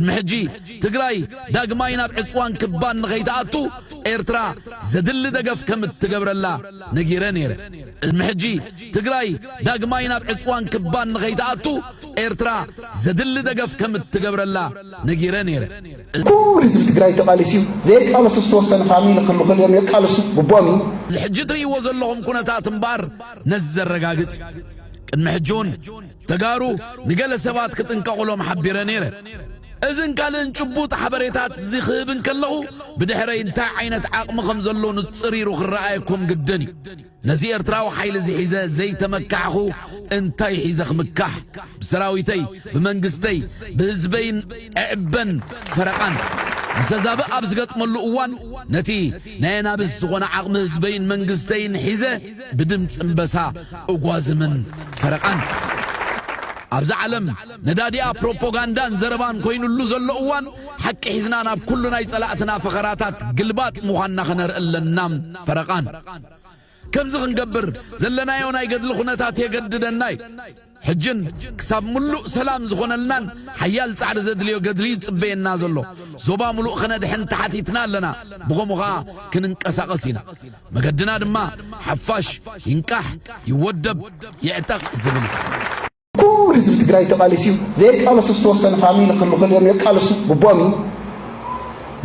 ቅድሚ ሕጂ ትግራይ ዳግማይ ናብ ዕጽዋን ክባን ንኸይትኣቱ ኤርትራ ዘድሊ ደገፍ ከም እትገብረላ ነጊረ ነይረ። ቅድሚ ሕጂ ትግራይ ዳግማይ ናብ ዕጽዋን ክባን ንኸይትኣቱ ኤርትራ ዘድሊ ደገፍ ከም እትገብረላ ነጊረ ነይረ። ኩሉ ህዝቢ ትግራይ ተቓሊሱ እዩ። ዘይቃለሱ ዝተወሰኑ ፋሚሊ ክህሉ ክእሉ እዮም፣ የቃልሱ፣ ግቡኦም እዩ። እዚ ሕጂ እትርእይዎ ዘለኹም ኩነታት እምበኣር ነዚ ዘረጋግጽ እዩ። ቅድሚ ሕጂ እውን ተጋሩ ንገለ ሰባት ክጥንቀቑሎም ሓቢረ ነይረ። እዝን ካልእን ጭቡጥ ሓበሬታት'ዚ ክህብ እንከለኹ ብድሕረይ እንታይ ዓይነት ዓቕሚ ከም ዘሎ ንጽሪሩ ክረኣየኩም ግድን እዩ። ነዚ ኤርትራዊ ሓይሊ'ዚ ሒዘ ዘይተመካሕኹ እንታይ ሒዘ ክምካሕ? ብሰራዊተይ፣ ብመንግስተይ፣ ብህዝበይን እዕበን ፈረቓን ምሰዛብእ ኣብ ዝገጥመሉ እዋን ነቲ ናይ ኣናብስ ዝኾነ ዓቕሚ ህዝበይን መንግስተይን ሒዘ ብድምጺ እምበሳ እጓዝምን ፈረቃን ኣብዛ ዓለም ነዳዲኣ ፕሮፖጋንዳን ዘረባን ኮይኑሉ ዘሎ እዋን ሓቂ ሒዝና ናብ ኩሉ ናይ ጸላእትና ፈኸራታት ግልባጥ ምዃንና ከነርኢ ኣለና ፈረቃን ከምዚ ክንገብር ዘለናዮ ናይ ገድሊ ኩነታት የገድደና እዩ። ሕጅን ክሳብ ምሉእ ሰላም ዝኾነልናን ሓያል ጻዕሪ ዘድልዮ ገድሊ'ዩ ዝጽበየና ዘሎ። ዞባ ምሉእ ከነድሕን ተሓቲትና ኣለና፣ ብኸምኡ ከኣ ክንንቀሳቐስ ኢና። መገድና ድማ ሓፋሽ ይንቃሕ፣ ይወደብ፣ ይዕጠቕ ዝብል እዩ። ኩሉ ህዝቢ ትግራይ ተቓሊሱ እዩ። ዘይቃለሱ ዝተወሰኑ ፋሚሊ ክሉ ክልኦም የቃልሱ ግቡኦም እዩ።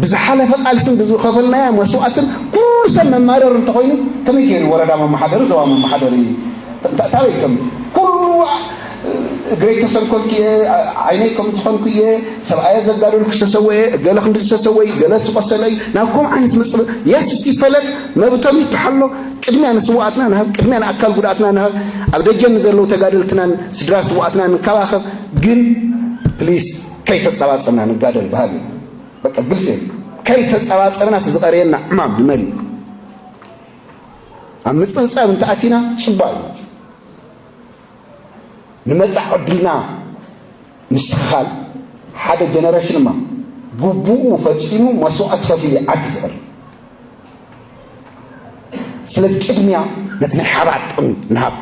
ብዝሓለፈ ቃልስን ብዝኸፈልናዮ መስዋእትን ኩሉ ሰብ መማረሪ እንተኾይኑ ከመይ ገይሩ ወረዳ መማሓደሪ ዞባ መማሓደሪ ታበይ ከምዚ ኩሉ እግረይ ተሰንኮልኩ እየ ዓይነይ ከም ዝኾንኩ እየ ሰብኣየ ዘጋደልኩ ዝተሰወየ እገለ ክንዲ ዝተሰወይ ገለ ዝቆሰለ እዩ ናብ ከምኡ ዓይነት መፅበ የስ ይፈለጥ መብቶም ይተሓሎ ቅድሚያ ንስዋኣትና ንሃብ ቅድሚያ ንኣካል ጉድኣትና ንሃብ ኣብ ደጀን ንዘለዉ ተጋደልትናን ስድራ ስዋኣትና ንከባኸብ ግን ፕሊስ ከይተፀባፀብና ንጋደል በሃሊ እዩ በቃ ግልፂ እዩ ከይተፀባፀብና እቲ ዝቐርየና ዕማም ንመን እዩ ኣብ ምፅብፃብ እንተኣቲና ፅቡቅ እዩ ንመፃዕ ዕድልና ምስትኽኻል ሓደ ጀነሬሽን እማ ግቡኡ ፈፂሙ መስዋእቲ ከፊሉ ዓዲ ዝቕር ስለዚ ቅድሚያ ነቲ ናይ ሓባር ጥቕሚ ንሃብ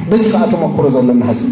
በዚ ከዓ ተመክሮ ዘለና ህዝቢ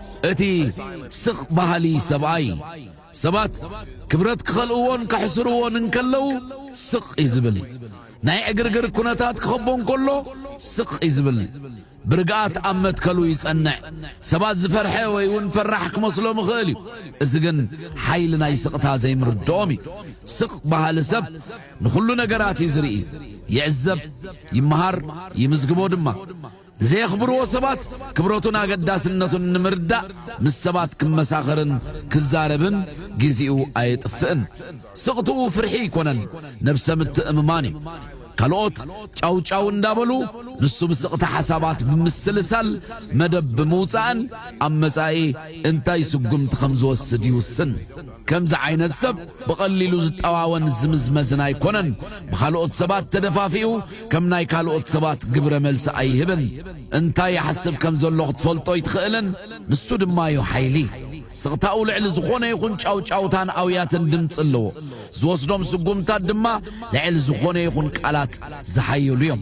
እቲ ስቕ በሃሊ ሰብኣይ፣ ሰባት ክብረት ክኸልእዎን ከሕስርዎን እንከለዉ ስቕ እዩ ዝብል። ናይ ዕግርግር ኵነታት ክኸቦ እንከሎ ስቕ እዩ ዝብል። ብርግኣት ኣብ መትከሉ ይጸንዕ። ሰባት ዝፈርሐ ወይ እውን ፈራሕ ክመስሎም ይኽእል እዩ፣ እዚ ግን ሓይሊ ናይ ስቕታ ዘይምርድኦም እዩ። ስቕ በሃሊ ሰብ ንዅሉ ነገራት እዩ ዝርኢ፣ ይዕዘብ፣ ይመሃር፣ ይምዝግቦ ድማ። ዘየኽብርዎ ሰባት ክብረቱን ኣገዳስነቱን ንምርዳእ ምስ ሰባት ክመሳኸርን ክዛረብን ግዜኡ ኣየጥፍእን። ስቕትኡ ፍርሒ ኣይኮነን፣ ነብሰ ምትእምማን እዩ። ካልኦት ጫውጫው እንዳበሉ ንሱ ብስቕታ ሓሳባት ብምስልሳል መደብ ብምውጻእን ኣብ መጻኢ እንታይ ስጉምቲ ከም ዝወስድ ይውስን። ከምዚ ዓይነት ሰብ ብቐሊሉ ዝጠዋወን ዝምዝመዝን ኣይኮነን። ብኻልኦት ሰባት ተደፋፊኡ ከም ናይ ካልኦት ሰባት ግብረ መልሲ ኣይህብን። እንታይ ይሓስብ ከም ዘሎ ክትፈልጦ ኣይትኽእልን። ንሱ ድማ እዩ ሓይሊ። ስቕታኡ ልዕሊ ዝኾነ ይኹን ጫውጫውታን ኣውያትን ድምጺ ኣለዎ። ዝወስዶም ስጉምታት ድማ ልዕሊ ዝኾነ ይኹን ቃላት ዝሓየሉ እዮም።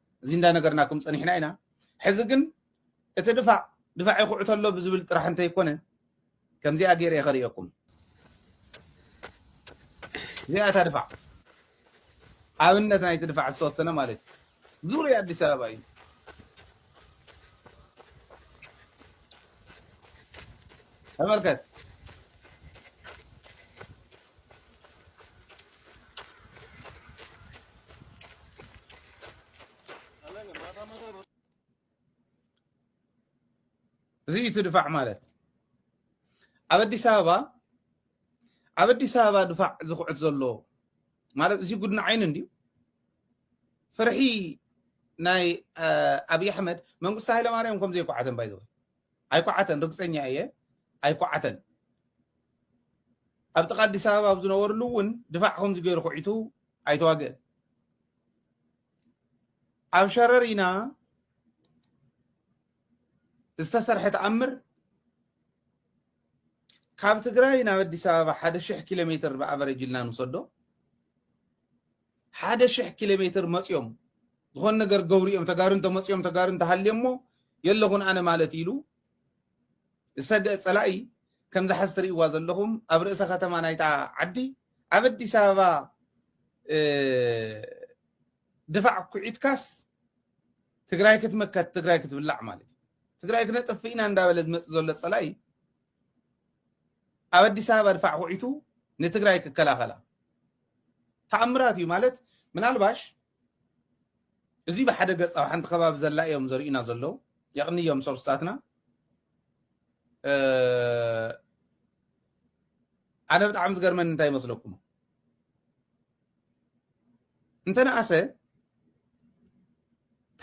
እዚ እንዳነገርናኩም ጸኒሕና ኢና ሕዚ ግን እቲ ድፋዕ ድፋዕ ይኹዕ ተሎ ብዝብል ጥራሕ እንተይኮነ ከምዚኣ ገይረ እየ ከርእየኩም እዚኣ እታ ድፋዕ ኣብነት ናይቲ ድፋዕ ዝተወሰነ ማለት እዩ ዙርያ ኣዲስ ኣበባ እዩ ተመልከት እዚ እዩ እቲ ድፋዕ ማለት ኣብ ኣዲስ ኣበባ ኣብ ኣዲስ ኣበባ ድፋዕ ዝኹዕት ዘሎ ማለት እዚ ጉድኒ ዓይኒ እንድዩ ፍርሒ ናይ ኣብዪ ኣሕመድ መንግስቲ ሃይለማርያም ከም ዘይኳዓተን ባይዘወ ኣይኮዓተን ርግጸኛ እየ ኣይኮዓተን ኣብ ጥቃ ኣዲስ ኣበባ ኣብ ዝነበርሉ እውን ድፋዕ ከምዚ ገይሩ ኩዒቱ ኣይተዋግእን ኣብ ሸረሪና ዝተሰርሐ ተኣምር ካብ ትግራይ ናብ ኣዲስ ኣበባ ሓደ ሽሕ ኪሎ ሜትር ብኣቨሬጅ ኢልና ንውሰዶ ሓደ ሽሕ ኪሎሜትር መጽዮም ዝኾነ ነገር ገብሩ እዮም ተጋሩ እንተመጽዮም ተጋሩ እንተሃልዮሞ የለኹን ኣነ ማለት ኢሉ ዝሰገእ ጸላኢ ከምዚ ሓዚ ትርእይዋ ዘለኹም ኣብ ርእሰ ከተማ ናይታ ዓዲ ኣብ ኣዲስ ኣበባ ድፋዕ ኩዒትካስ ትግራይ ክትመከት ትግራይ ክትብላዕ ማለት እዩ ትግራይ ክነጥፍእ ኢና እንዳበለ ዝመጽእ ዘሎ ጸላኢ ኣብ ኣዲስ ኣበባ ድፋዕ ኩዒቱ ንትግራይ ክከላኸላ ተኣምራት እዩ ማለት ምናልባሽ እዚ ብሓደ ገፅ ኣብ ሓንቲ ከባቢ ዘላ እዮም ዘርእዩና ዘለው የቕንዮም ሶርስታትና ኣነ ብጣዕሚ ዝገርመኒ እንታይ ይመስለኩም እንተነኣሰ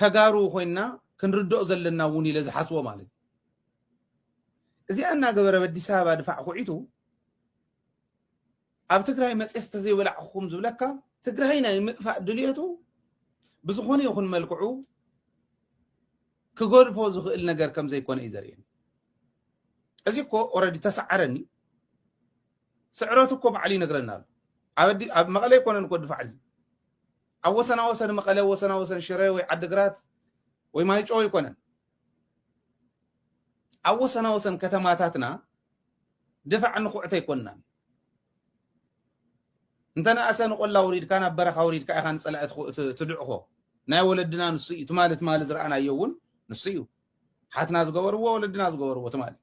ተጋሩ ኮይንና ክንርድኦ ዘለና እውን ኢለ ዝሓስቦ ማለት እዩ እዚኣ እናገበረ ኣብ ኣዲስ ኣበባ ድፋዕ ኩዒቱ ኣብ ትግራይ መፅስ ተዘይበላዕኹም ዝብለካ ትግራይ ናይ ምጥፋእ ድልየቱ ብዝኾነ ይኹን መልክዑ ክገድፎ ዝኽእል ነገር ከም ዘይኮነ እዩ ዘርእየኒ እዚ እኮ ኦረዲ ተሰዓረኒ ስዕረቱ እኮ ባዕሉ ይነግረና ኣሎ ኣብ መቐለ ኣይኮነን እኮ ድፋዕ እዚ ኣብ ወሰና ወሰን መቐለ ወሰና ወሰን ሽረ ወይ ዓድግራት ወይ ማይጮ ኣይኮነን ኣብ ወሰናወሰን ከተማታትና ድፋዕ ንኹዕት ኣይኮናን። እንተነኣሰ ንቆላ ውሪድካ ናብ በረኻ ውሪድካ ኢኻ ንፀላኢ ትድዕኾ ናይ ወለድና ንሱ እዩ ትማሊ ትማሊ ዝረኣናዮ እውን ንሱ እዩ ሓትና ዝገበርዎ ወለድና ዝገበርዎ ትማሊ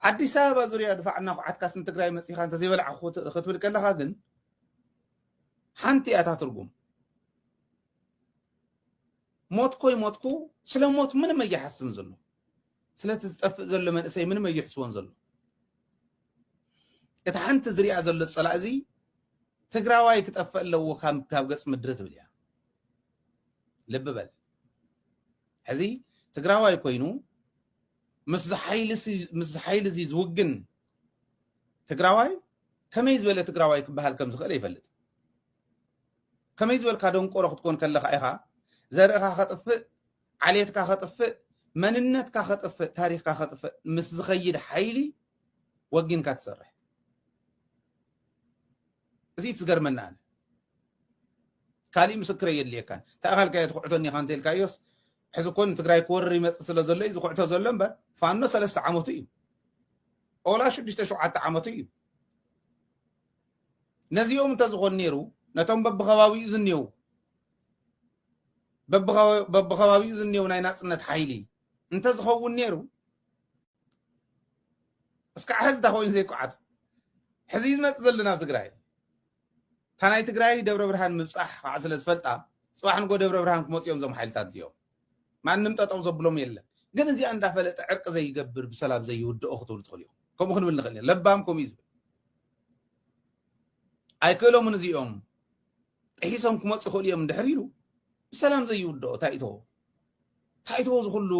ኣዲስ ኣበባ ዙርያ ድፋዕ እናኳዓትካስ ንትግራይ መፂኻ እንተዘይበላዕ ክትብል ከለኻ ግን ሓንቲ እያ እታ ትርጉም ሞትኮ ይሞትኩ ስለ ሞት ምንም ኣይሓስብን ዘሎ ስለቲ ዝጠፍእ ዘሎ መንእሰይ ምንም ኣይሕስቦን ዘሎ እቲ ሓንቲ ዝሪኣ ዘሎ ፀላእ እዚ ትግራዋይ ክጠፍእ ኣለዎ ካብ ገፅ ምድሪ ትብል እያ ልቢ በል ሕዚ ትግራዋይ ኮይኑ ምስ ሓይሊ እዚ ዝውግን ትግራዋይ ከመይ ዝበለ ትግራዋይ ክበሃል ከም ዝኽእል ይፈልጥ ከመይ ዝበልካ ደንቆሮ ክትኮን ከለኻ ኢኻ ዘርእኻ ከጥፍእ ዓሌትካ ከጥፍእ መንነትካ ከጥፍእ ታሪኽካ ከጥፍእ ምስ ዝኸይድ ሓይሊ ወጊንካ ትሰርሕ እዚ ትዝገርመና ኣነ ካልእ ምስክረ የድልየካን ተኣኻልካዮ ትኩዕቶኒ ኢኻ እንተኢልካዮስ ሕዚ ኮን ትግራይ ክወርር ይመፅእ ስለ ዘሎ እዩ ዝኩዕቶ ዘሎ እምበር ፋኖ ሰለስተ ዓመቱ እዩ ኦላ ሽዱሽተ ሸውዓተ ዓመቱ እዩ ነዚኦም እንተዝኾን ነይሩ ነቶም በብኸባቢኡ ዝኔው በብኸባቢኡ ዝኔው ናይ ናፅነት ሓይሊ እንተዝኸውን ነይሩ እስካዕ ሕዚ እታ ኮይኑ ዘይኳዓቱ ሕዚ ዝመፅእ ዘሎ ናብ ትግራይ እታ ናይ ትግራይ ደብረ ብርሃን ምብፃሕ ከዓ ስለ ዝፈልጣ ፅባሕ ንጎ ደብረ ብርሃን ክመፅኦም ዞም ሓይልታት እዚኦም ማንም ጠጠው ዘብሎም የለን ግን እዚኣ እንዳፈለጠ ዕርቂ ዘይገብር ብሰላም ዘይውድኦ ክትብሉ ትኽእሉ ኢኹም ከምኡ ክንብል ንኽእል ኢና ለባም ከምኡ እዩ ዝብል ኣይክእሎምን እዚኦም ጥሒሶም ክመፁ ይኽእሉ እዮም እንድሕር ኢሉ ብሰላም ዘይውድኦ እንታይ እቶ እንታይ እቶ ዝኹሉ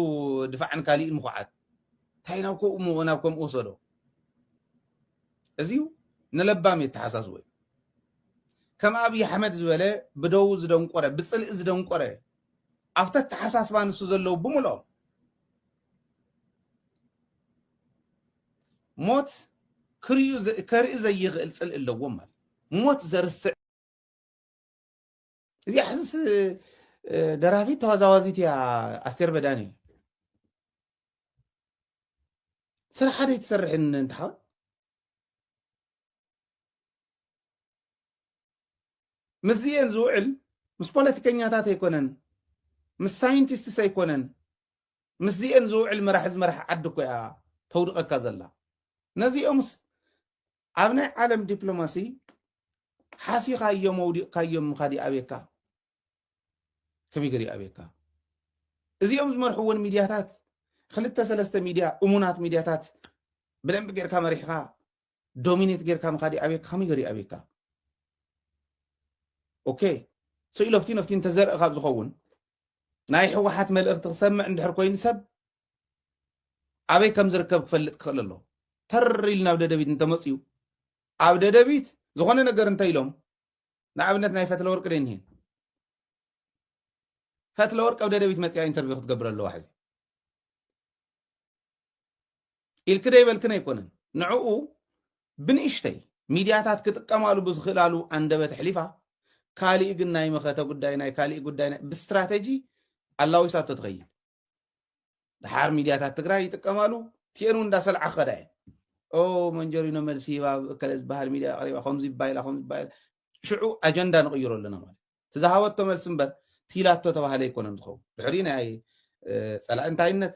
ድፋዕን ካሊእን ምኹዓት እንታይ ናብ ከምኡ ናብ ከምኡ ወሰዶ እዚዩ ንለባም የተሓሳስቦ እዩ ከም ኣብዪ ኣሕመድ ዝበለ ብደው ዝደንቆረ ብፅልኢ ዝደንቆረ ኣብቲ ኣተሓሳስባ ንሱ ዘለዉ ብምልኦም ሞት ከርኢ ዘይኽእል ፅልኢ ኣለዎም ማለት ሞት ዘርስዕ እዚኣ ሕዝስ ደራፊት ተዋዛዋዚት እያ ኣስቴር በዳኒ ስራሕ ሓደ ትሰርሕን እንትሓወት ምስዚኤን ዝውዕል ምስ ፖለቲከኛታት ኣይኮነን ምስ ሳይንቲስትስ ኣይኮነን ምስዚኤን ዝውዕል መራሒ ዝመርሐ ዓዲ እኮ እያ ተውድቐካ ዘላ ነዚኦምስ ኣብ ናይ ዓለም ዲፕሎማሲ ሓሲኻዮም ኣውዲቕካዮም ምኻድ ይኣብየካ ከመይ ገር ይኣብየካ እዚኦም ዝመርሕዎን ሚድያታት ክልተ ሰለስተ ሚድያ እሙናት ሚድያታት ብደንቢ ጌርካ መሪሕኻ ዶሚኔት ጌርካ ምካድ ይኣብየካ ከመይ ገሩ ይኣብየካ ኦኬ ሶ ኢሎፍቲ ነፍቲ እንተዘርኢ ካብ ዝኸውን ናይ ሕወሓት መልእኽቲ ክሰምዕ እንድሕር ኮይኑ ሰብ ኣበይ ከም ዝርከብ ክፈልጥ ክኽእል ኣሎ ተር ኢሉ ናብ ደደቢት እንተመፅኡ ኣብ ደደቢት ዝኾነ ነገር እንተ ኢሎም ንኣብነት ናይ ፈትለ ወርቂ ደ እኒሄ ፈትለ ወርቂ ኣብ ደደቢት መፅያ ኢንተርቪው ክትገብር ኣለዋ ሕዚ ኢልክ ደይበልክን ኣይኮነን ንዕኡ ብንእሽተይ ሚድያታት ክጥቀማሉ ብዝኽእላሉ ኣንደበት ኣሕሊፋ ካሊእ ግን ናይ መኸተ ጉዳይ ናይ ካሊእ ጉዳይ ብስትራተጂ ኣላዊሳቶ ትኸይድ ድሓር ሚድያታት ትግራይ ይጥቀማሉ ቲኤን እውን እንዳሰልዓ ክኸዳ እየን ኦ መንጀሪኖ መልሲ ሂባ እከለ ዝበሃል ሚድያ ኣቕሪባ ከምዚ ባይላ ከምዚ ባይላ ሽዑ ኣጀንዳ ንቕይሮ ኣለና ማለት ትዝሃበቶ መልሲ እምበር ቲላቶ ተባሃለ ኣይኮነን ዝኸውን ድሕሪ ናይ ፀላእ እንታይነት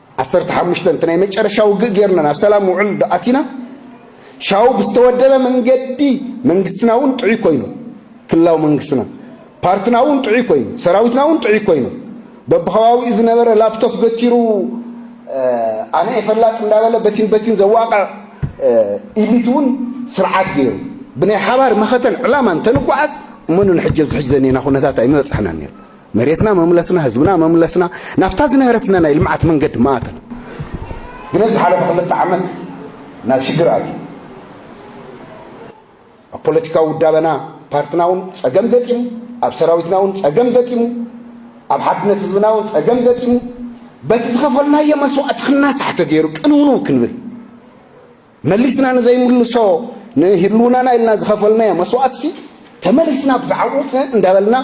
ዓሰርተ ሓሙሽተ እቲ ናይ መጨረሻ ውግእ ጌርና ናብ ሰላም ውዕል ዶ ኣቲና? ሻው ብዝተወደበ መንገዲ መንግስትና እውን ጥዑይ ኮይኑ፣ ክልላዊ መንግስትና፣ ፓርትና እውን ጥዑይ ኮይኑ፣ ሰራዊትና እውን ጥዑይ ኮይኑ፣ በብኸባቢኡ ዝነበረ ላፕቶፕ በቲሩ ኣነ እየ ፈላጥ እንዳበለ በቲን በቲን ዘዋቕዕ ኢሊት እውን ስርዓት ገይሩ ብናይ ሓባር መኸተን ዕላማን ተንጓዓዝ እመኑን ሕጂ ኣብዚ ሕጂ ዘኒና ኩነታት ኣይምበፃሕናን ነይሩ መሬትና መምለስና ህዝብና መምለስና ናብታ ዝነበረትና ናይ ልምዓት መንገዲ መኣተና። ግን ኣብ ዝሓለፈ ክልተ ዓመት ናብ ሽግር ኣትዩ ኣብ ፖለቲካዊ ውዳበና ፓርትና እውን ፀገም ገጢሙ ኣብ ሰራዊትና እውን ፀገም ገጢሙ ኣብ ሓድነት ህዝብና እውን ፀገም ገጢሙ በቲ ዝኸፈልናዮ መስዋእቲ ክናሳሕ ተገይሩ ቅንውንው ክንብል መሊስና ንዘይምልሶ ንህልውናና ኢልና ዝኸፈልናዮ መስዋእትሲ ተመሊስና ብዛዕብኡ እ እንዳበልና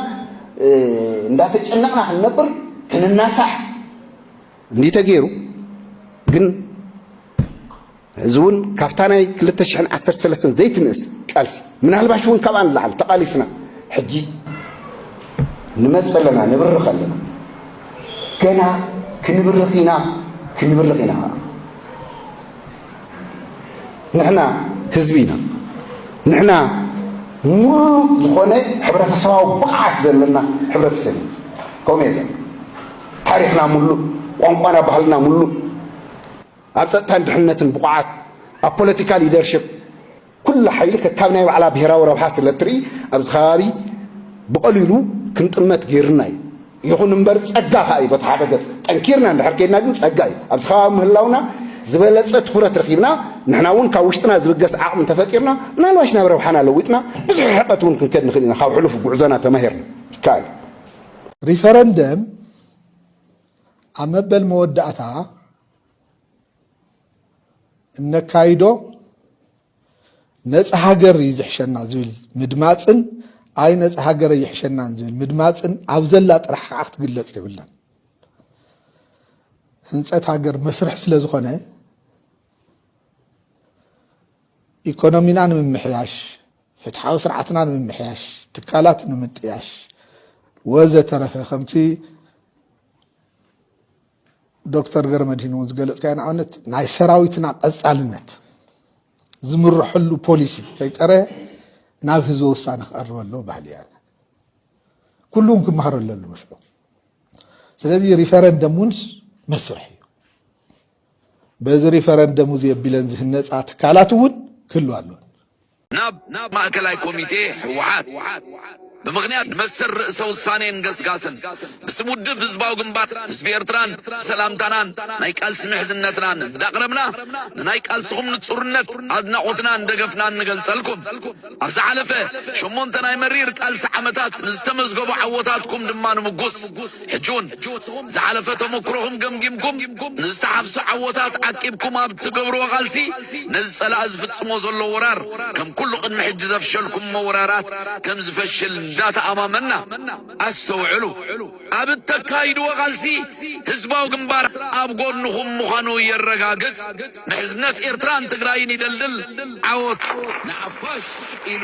እንዳተጨነቕና ክንነብር ክንናሳሕ እንዲዩ ተገይሩ ግን እዚ እውን ካብታ ናይ 213 ዘይትንእስ ቃልሲ ምናልባሽ እውን ካብኣ ንላዕሊ ተቓሊስና ሕጂ ንመፅ ኣለና ንብርኽ ኣለና ገና ክንብርኽ ኢና ክንብርኽ ኢና ንሕና ህዝቢ ኢና። ንሕና ሙሉእ ዝኾነ ሕብረተሰባዊ ብቕዓት ዘለና ሕብረተሰብ ኢና። ከምኡ እየ ዝብል። ታሪኽና ሙሉእ፣ ቋንቋና ባህልና ሙሉእ፣ ኣብ ፀጥታን ድሕነትን ብቑዓት፣ ኣብ ፖለቲካ ሊደርሽፕ ኩላ ሓይሊ ከካብ ናይ ባዕላ ብሄራዊ ረብሓ ስለ እትርኢ ኣብዚ ከባቢ ብቐሊሉ ክንጥመት ገይሩና እዩ። ይኹን እምበር ጸጋ ከኣ እዩ በቲ ሓደ ገጽ። ጠንኪርና እንድሕር ኬድና ግን ጸጋ እዩ። ኣብዚ ከባቢ ምህላውና ዝበለጸ ትኹረት ረኺብና ንሕና እውን ካብ ውሽጥና ዝብገስ ዓቕሚ እንተፈጢርና ምናልባሽ ናብ ረብሓና ለዊጥና ብዙሕ ርሕቐት እውን ክንከድ ንኽእል ኢና። ካብ ሕሉፍ ጉዕዞና ተማሂርና። ይከኣል እዩ። ሪፈረንደም ኣብ መበል መወዳእታ እነካይዶ ነፃ ሃገር እዩ ዝሕሸና ዝብል ምድማፅን ኣይ ነፃ ሃገር ይሕሸናን ዝብል ምድማፅን ኣብ ዘላ ጥራሕ ከዓ ክትግለፅ የብላን ህንፀት ሃገር መስርሕ ስለ ዝኾነ ኢኮኖሚና ንምምሕያሽ ፍትሓዊ ስርዓትና ንምምሕያሽ ትካላት ንምጥያሽ ወዘተረፈ ከምቲ ዶክተር ገረመድሂን እውን ዝገለፅካዮ ንኣብነት ናይ ሰራዊትና ቀፃልነት ዝምርሐሉ ፖሊሲ ከይቀረ ናብ ህዝበ ውሳነ ክቐርብ ኣለዎ ባህሊ እያ ኩሉም ክመሃሮ ኣለሉ መስሎ ስለዚ ሪፈረንደም ውንስ መስርሕ እዩ በዚ ሪፈረንደም እዚ ኣቢለን ዝህነፃ ትካላት እውን ክህሉ ኣለዎ ናብ ማእከላይ ኮሚቴ ህወሓት ብምኽንያት መሰል ርእሰ ውሳኔን ገስጋስን ብስም ውድብ ህዝባዊ ግንባር ህዝቢ ኤርትራን ሰላምታናን ናይ ቃልሲ ምሕዝነትናን እንዳቕረብና ንናይ ቃልስኹም ንጹርነት ኣድናቖትናን ደገፍናን ንገልጸልኩም። ኣብ ዝሓለፈ ሸሞንተ ናይ መሪር ቃልሲ ዓመታት ንዝተመዝገቡ ዓወታትኩም ድማ ንምጉስ። ሕጂውን ዝሓለፈ ተመኩሮኹም ገምጊምኩም ንዝተሓፍሱ ዓወታት ዓቂብኩም ኣብ እትገብርዎ ቃልሲ ነዚ ጸላኢ ዝፍጽሞ ዘሎ ወራር ከም ኩሉ ቅድሚ ሕጂ ዘፍሸልኩሞ ወራራት ከም ዝፈሽል እንዳተኣማመንና ኣስተውዕሉ ኣብ እተካይድዎ ቃልሲ ህዝባዊ ግንባር ኣብ ጎንኹም ምዃኑ የረጋግጽ ምሕዝነት ኤርትራን ትግራይን ይደልድል ዓወት ንሓፋሽ ኢሉ።